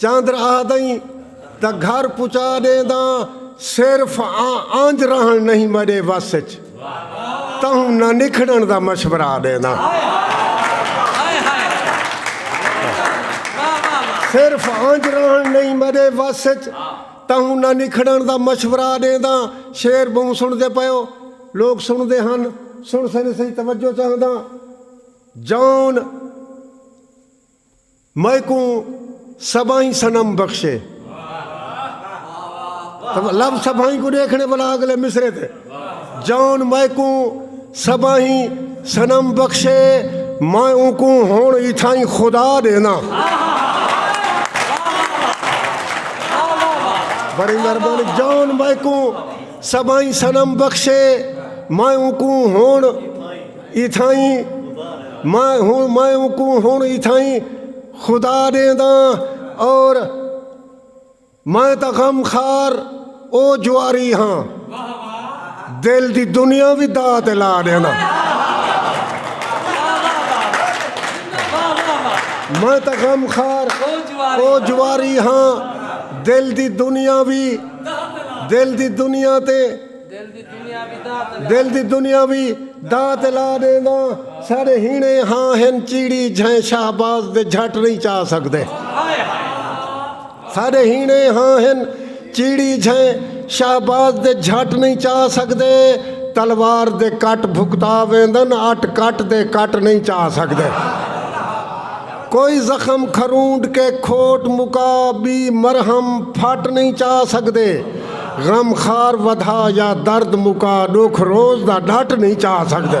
چاندر آہدئیں تاں گھر پچا ڈینداں صرف آنج رہنڑ نہیں مڈے وس اچ تہوں نہ نکھڑنڑ دا مشورہ ڈینداں صرف آنج رہنڑ نہیں مڈے وس اچ تہوں نہ نکھڑنڑ دا مشورہ ڈینداں شعر بہوں سنڑدے پیو لوگ سنڑدے ہن سنڑ سنڑ سہی توجہ چاہنداں جان میکوں سبائیں صنم بخشے۔ لفظ سبائیں کوں ݙیکھݨے ولا اڳلے مصرعے تے جان میکوں سبائیں صنم بخشے میں اونکوں ہݨ اتھائیں خدا ݙینداں۔ اتھائیں میں ہوں میں اونکوں ہن اتھائیں خدا ݙینداں اور میں تاں غم خار او جواری ہاں دل دی دنیا وی داء تے لا ݙینداں۔ میں تاں غم خار او جواری ہاں دل دی دنیا وی دل دی دنیا تے دل دی دنیا وی دات الا ݙینداں ساݙے ہیݨے ہاں ہن چیڑی جھئیں شہباز دے جھٹ نئیں چا سڳدے ساݙے ہیݨے ہاں ہن چیڑی جھئیں شہباز دے جھٹ نئیں چا سڳدے تلوار دے کٹ بھکتا ویندن اٹ کٹ دے کٹ نئیں چا سڳدے کوئی زخم کھرونڈ کے کھوٹ مکا بی مرہم پھٹ نئیں چا سگدے غم خار ودھا یا درد مکا ڈکھ روز دا ڈٹ نئیں چا سگدے۔